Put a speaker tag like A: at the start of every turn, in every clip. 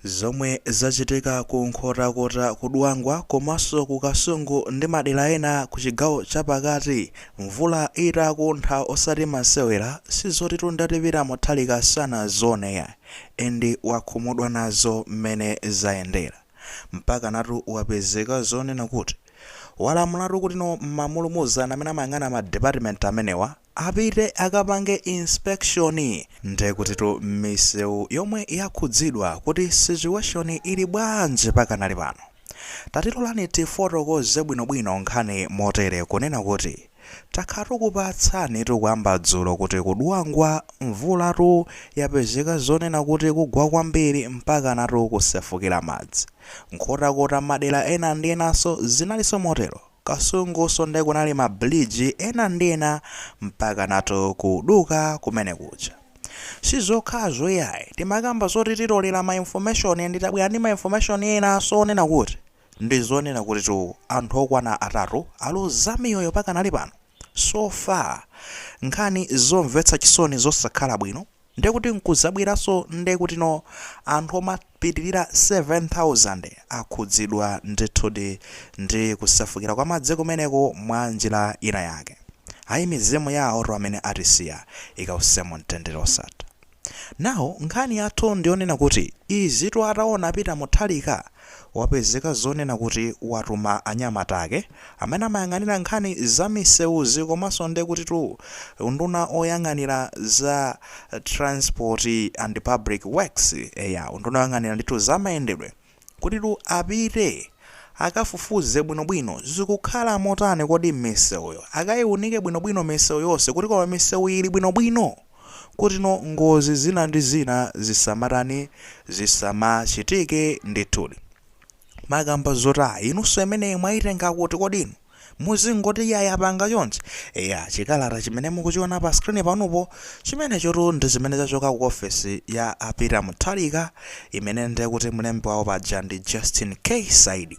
A: Zomwe zachitika ku Nkhotakota ku Dwangwa komaso ku Kasungu ndi madera ena ku chigawo cha pakati mvula itakuntha osati masewera sizotitu ndati Peter Mutharika sanazione ayi and wakhumudwa nazo mmene zayendera mpakanatu wapezeka zonena kuti walamulatu kuti no ma ulumuzana amene amayang'ana ma department amenewa Apite akapange inspection ndekutitu mmisewu yomwe yakhudzidwa kuti situation ili bwanji pakanali pano. Tatilolani tifotokoze bwino bwino nkhani motere kunena kuti takhala tukupatsani tu kuyamba dzulo kuti ku Dwangwa mvulatu yapezeka zonena kuti ikugwa kwambiri mpakanatu kusefukira madzi. Nkhotakota madera ena ndi enanso zinalinso motero. Kasungunso nde kunali ma bridge ena ndi ena mpakanatu kuduka kumene kuja. Sizokhazo iyayi, timakamba zoti titolera ma information ndi tabwera ndi ma information enanso onena kuti ndi zoona kutitu anthu okwana atatu aluza miyoyo pakanali pano. So far nkhani zomvetsa chisoni zosakhala bwino. Ndekuti nkuzabweranso ndekutino anthu omapitilira 7000 akhudzidwa ndithudi ndi kusefukira kwa madzi kumeneko mwa njira ina yake. Ayi mizimu ya awotu amene atisiya ikause mu mtendere wosatha. Now nkhani yathu ndiyonena kuti izitu ataona Peter Mutharika wapezeka zonena kuti watuma anyamata ake amene amayang'anira nkhani za misewuzi komanso ndekutitu unduna oyang'anira za transport and public works eya unduna oyang'anira ndithu za mayendedwe kutitu apite akafufuze bwinobwino zikukhala motani kodi misewuyo akaiunike bwinobwino misewu yonse kuti koma misewu ili bwinobwino kutino ngozi zina ndi zina zisamatani zisamachitike ndithudi Makamba zotani inunso imeneyi mwayitenga kuti kodi inu muzingoti ya yapanga chonchi eya chikalata chimene mukuchiona pa screen panupo chimenechotu ndi chimene chachoka ku ofesi ya a Peter Mutharika imene ndiye kuti mlembi wawo paja ndi Justin K Saidi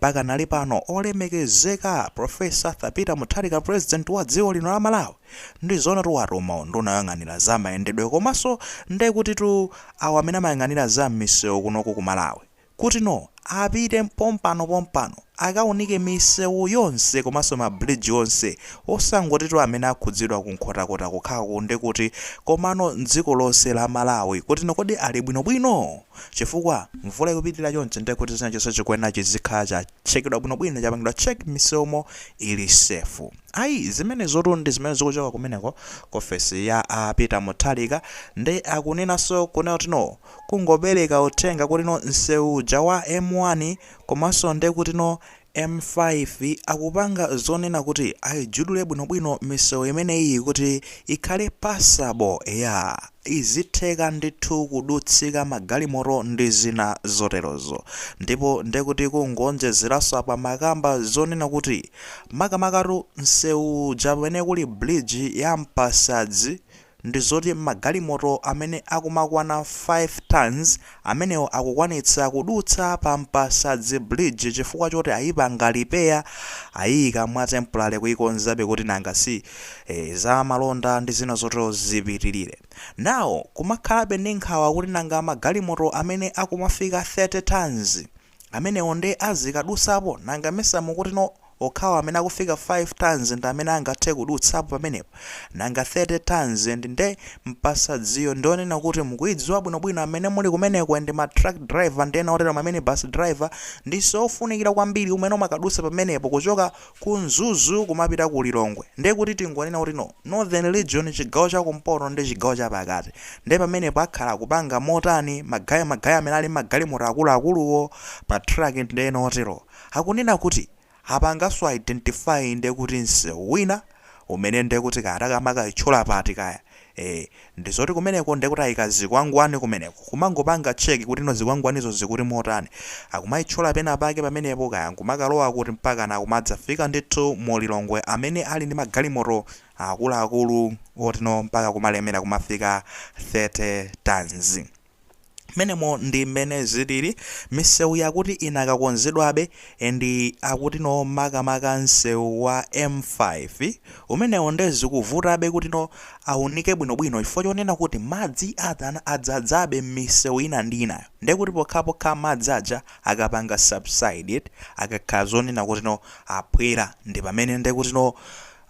A: Pakanali pano olemekezeka Professor Arthur Peter Mutharika President wa dziko lino la Malawi ndizoonatu watuma unduna oyang'anira za mayendedwe komaso ndekutitu awo amene amayang'anira za mmisewu kunoku ku Malawi kutino apite pompano pompano akaunike misewu yonse komaso ma bridge onse osangotitu amene akhudzidwa ku Nkhotakota kokhako ndekuti komano mdziko lonse la Malawi kutino kodi ali bwino bwino? chifukwa mvula ikupitilira chonchi ndiye kuti china chonse chikuyenera chizikhala chatchekedwa bwino bwino chapangidwa check m'misewumo ili safe. Ayi zimenezotu ndi zimene zikuchoka kumeneko ku ofesi ya a Peter Mutharika nde akunenanso kunena kuti no kungopereka uthenga kuti no nsewu uja wa M1 komanso nde kuti no M-5 akupanga zonena kuti aijudule bwinobwino misewu imeneyiyi kuti ikhale passable, eya, izitheka ndithu kudutsika magalimoto ndi zina zoterozo. Ndipo nde kuti kungoonjezeranso apa amakamba zonena kuti makamakatu nsewu uja pamene kuli bridge ya Mpasadzi, ndi zoti magalimoto amene akumakwana 5 tons amenewo akukwanitsa kudutsa pa Mpasadzi bridge chifukwa choti ayipanga repair, ayiyika mwa temporary kuyikonzabe kuti nanga si eh za malonda ndi zina zotero zipitilire. Now kumakhalabe ndi nkhawa kuti nanga magalimoto amene akumafika 30 tons Amenewo nde azikadusapo? Nanga mesa mukuti no okhawo amene akufika 5 tons ndi amene angathe kudutsapo pamenepo? Nanga 30 tons and nde Mpasadziyo ndi onena kuti mukuidziwa bwino bwino amene muli kumeneko and ma truck driver ndi ena otero ma minibus driver ndi nsewu ofunikira kwambiri umene umakadusa pamenepo kuchoka ku mzuzu kumapita ku lilongwe nde kuti tingonena kuti no northern region chigawo cha kumpoto ndi chigawo cha pakati nde pamenepo akhala akupanga motani magaye magaye amene ali mmagalimoto akuluakuluwo ma truck ndi ena oterowo akunena kuti apanganso identify nde kuti msewu wina umene nde kuti kaya akumakaitchula pati kaya ee ndi zoti kumeneko nde kuti aika zikwangwani kumeneko kumangopanga check kuti no zikwangwanizo zikuti motani akumaitchula pena pake pamenepo kaya nkumakalowa kuti mpakana kumadzafika ndithu mu Lilongwe amene ali ndi magalimoto akuluakulu oti no mpaka kumalemera kumafika 30 tons. menemo ndi mmene zilili misewu yakuti inakakonzedwabe and akuti no makamaka msewu wa m5 umenewo nde zikuvutabe kuti no aunike bwinobwino chifukwa chonena kuti madzi adzadzabe mmisewu ina ndi inayo nde kuti pokhapokha madzi aja akapanga subside akakhala zonena kuti no aphwera ndi pamene nde kuti no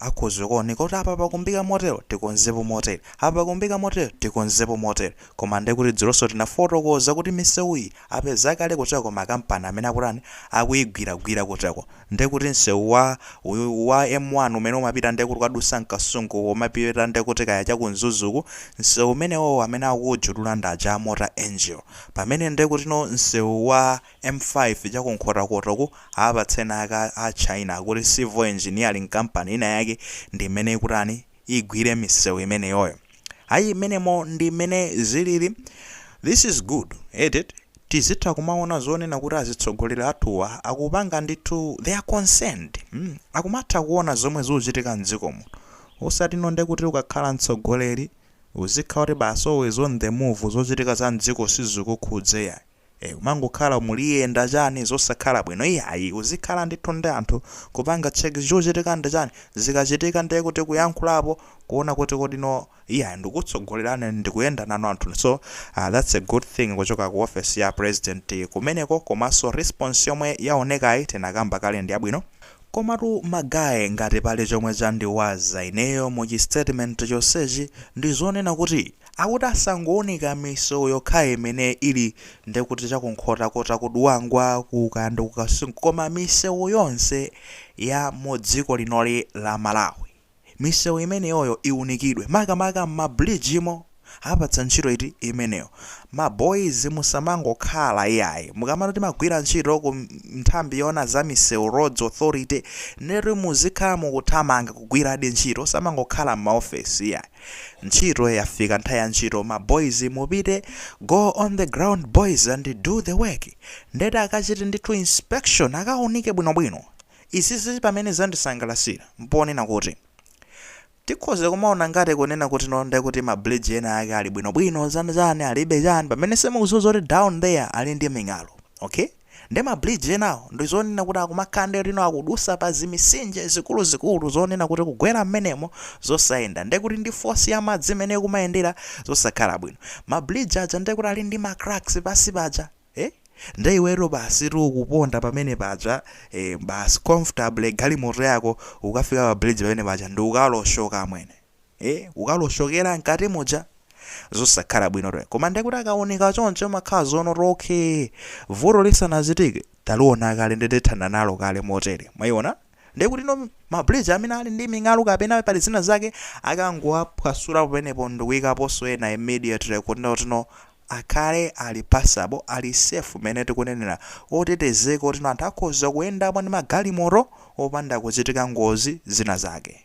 A: akhoza kuoneka kuti apa pakumbika motero tikonzepo motere apa pakumbika motero tikonzepo motere Koma ndekuti dzulonso tinafotokoza kuti miseuyi apeza kale kutcheko makampani amene akutani, akuyigwiragwira kutcheko. Ndekuti nseu wa M1 umene umapita nde kuti kukadutsa mkasungu kumapita nde kuti kaya chaku mzuzu uku, nseu umenewowo amene akuwujudula ndi aja a Mota Engil. Pamene nde kutino nseu wa M5 chaku nkhotakota uku awapatsa aja a China akuti Civil Engineering Company ina yake ndi imene ikutani, igwire misewu imeneyoyo ayi imeneyo ndi mmene zilili this is good eti tizitha kumaona zonena kuti azitsogoleri athuwa akupanga ndithu they are concerned mm, akumatha kuona zomwe zikuchitika mdziko muno osati no nde kuti ukakhala mtsogoleri uzikhala kuti basi always on the move zochitika za mdziko sizikukhudza iyayi ee umangokhala muliyenda chani zosakhala bwino iyayi uzikhala ndithu ndi anthu kupanga check chikuchitika ndi chani zikachitika ndiye kuti kuyankhulapo kuona kuti kodi no iyayi ndikukutsogolerani ndikuyenda nanu anthuni so aah that's a good thing kuchoka ku office ya president kumeneko komanso response yomwe yaonekayi tinakamba kale ndiyabwino. Komatu magaye ngati pali chomwe chandiwaza ineyo mu chi statement chonsechi ndi zonena kuti akuti asangounika misewu yokhayo imene ili ndekuti cha ku Nkhotakota ku Dwangwa ku kaya ndi ku Kasungu koma misewu yonse ya mu dziko linoli la Malawi misewu imeneyoyo iunikidwe makamaka m'ma bridge mo apatsa ntchito iti imeneyo ma boys musamangokhala iyayi mukamati mumagwira ntchito ku nthambi yoona za misewu roads authority ndekuti muzikhala mukuthamanga kugwiradi ntchito osamangokhala m'maofesi iyayi Ntchito yafika nthawi ya ntchito ma boys mupite go on the ground boys and do the work ndeti akachite ndithu inspection akaunike bwinobwino. Izizi pamene zandisangalasira mponena kuti tikhoza kumaona ngati kunena kuti no ndekuti ma bridge ena ake ali bwinobwino chani chani alibe chani pamene simukudziwa zoti down there ali ndi ming'alu okay. Nde ma bridge enawo ndizonena kuti akumakhala nde lino akudutsa pa zimisinje zikuluzikulu zonena kuti kugwera mmenemo zosayenda nde kuti ndi force ya madzi mmene ikumayendera zosakhala bwino. Ma bridge aja nde kuti ali ndi ma cracks pansi paja eh nde iweyo basi ukuponda pamene paja eh basi comfortable galimoto yako ukafika pa bridge pamene paja ndi ukaloshoka amwene. ee ukaloshokera mkati muja zosakhala bwino to koma ndekuti akaunika choncho imakhala zonoti okay vuto lisanachitike taliona kale ndi tathana nalo kale motere mwayiona ndekuti no mabridge amene ali ndi ming'alu kapena pali zina zake akangowaphwasula pamenepo ndikuyikaponso ena immediately kuti notino akhale ali passable ali safe mene tikunenera otetezeka otino anthu akhoza kuyendapo ndi magalimoto opanda kuchitika ngozi zina zake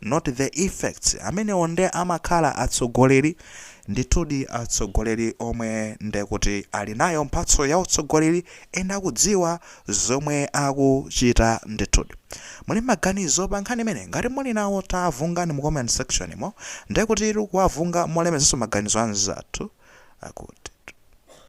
A: not the effects, amenewo nde amakhala atsogoleri, ndithudi atsogoleri omwe ndekuti ali nayo mphatso ya utsogoleri and akudziwa zomwe akuchita ndithudi. Muli ndi maganizo pa nkhani imeneyi? Ngati muli nawo tavungani mu comment section mo, ndekutitu kuwavunga molemekezanso maganizo anzathu akuti.